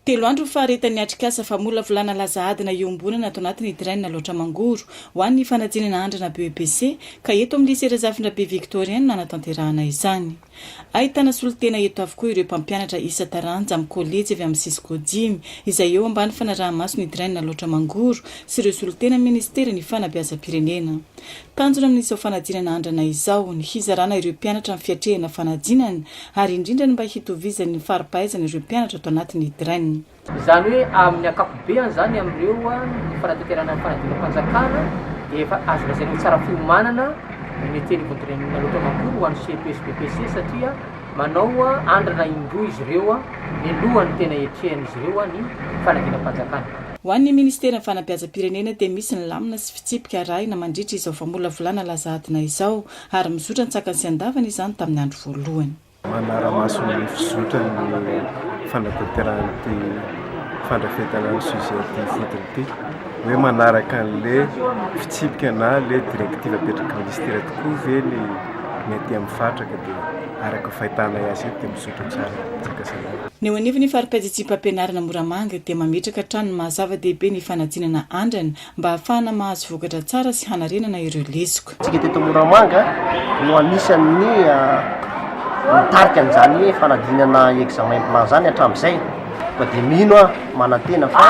Telo andro ny faharetan'ny atrikasa famolavolana laza adina iombonana ato anatin'ny Train Alaotra Mangoro ho an'ny fanadinana andrana BEPC ka eto amin'ny Lycée Razafindrabe Victorien no nanatanterahana izany. Ahitana solontena eto avokoa ireo mpampianatra isa-taranja amin'ny kolejy avy amin'ny Cisco dimy izay eo ambany fanaraha-maso ny Train Alaotra Mangoro sy ireo solontena minisiteran'ny fanabeazam-pirenena. Tanjona amin'izao fanadinana andrana izao ny hizarana ireo mpianatra ny fiatrehana fanadinana ary indrindra ny mba hitovizany ny fari-pahaizana ireo mpianatra ato anatin'ny DREN. Izany hoe amin'ny ankapobeany izany amin'ireo ny fanatanterahana ny fanadinam-panjakana dia efa azo lazaina ho tsara fiomanana ny Mety anivon'ny DREN loatra manontolo ho an'ny Ceto sy BEPC satria manao andrana indroa izy ireo mialoha ny tena hiatrehan'izy ireo ny fanadinam-panjakana. Ho an'ny Ministeran'ny Fanabeazam-pirenena dia misy ny lamina sy. fitsipika arahina mandritra izao famolavolana laza adina izao, ary mizotra an-tsakany sy an-davany izany tamin'ny andro voalohany. Manara-maso ny fizotran'ny fanatanterahana ity fandrafetana ny sujet ity ifotony ity hoe manaraka an'ilay fitsipika na ilay directive apetraky ny ministera tokoa ve ny ny aty amin'ny faritra ka dia araka fahitanay azy eto dia mizotra tsara Antsakasandrina. Ny eo anivon'ny fari-padidiam-pampianarana Moramanga dia mametraka hatrany ny maha-zava-dehibe ny fanadinana andrana mba hahafahana mahazo vokatra tsara sy hanarenana ireo lesoka. Isika teto Moramanga no anisan'ny nitarika an'izany fanadinana examen plan izany hatramin'izay koa dia mino aho, manantena fa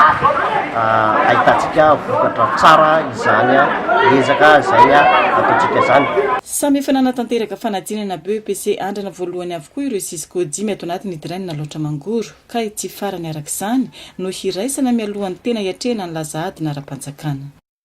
ahitantsika vokatra tsara izany ezaka izay ataontsika izany. Samy efa nanatanteraka fanadinana BEPC Andrana voalohany avokoa ireo Cisco dimy ato anatin'ny Diraina Alaotra Mangoro. ka ity farany araka izany no hiraisana mialohan'ny tena hiatrehana ny laza adina ara-panjakana.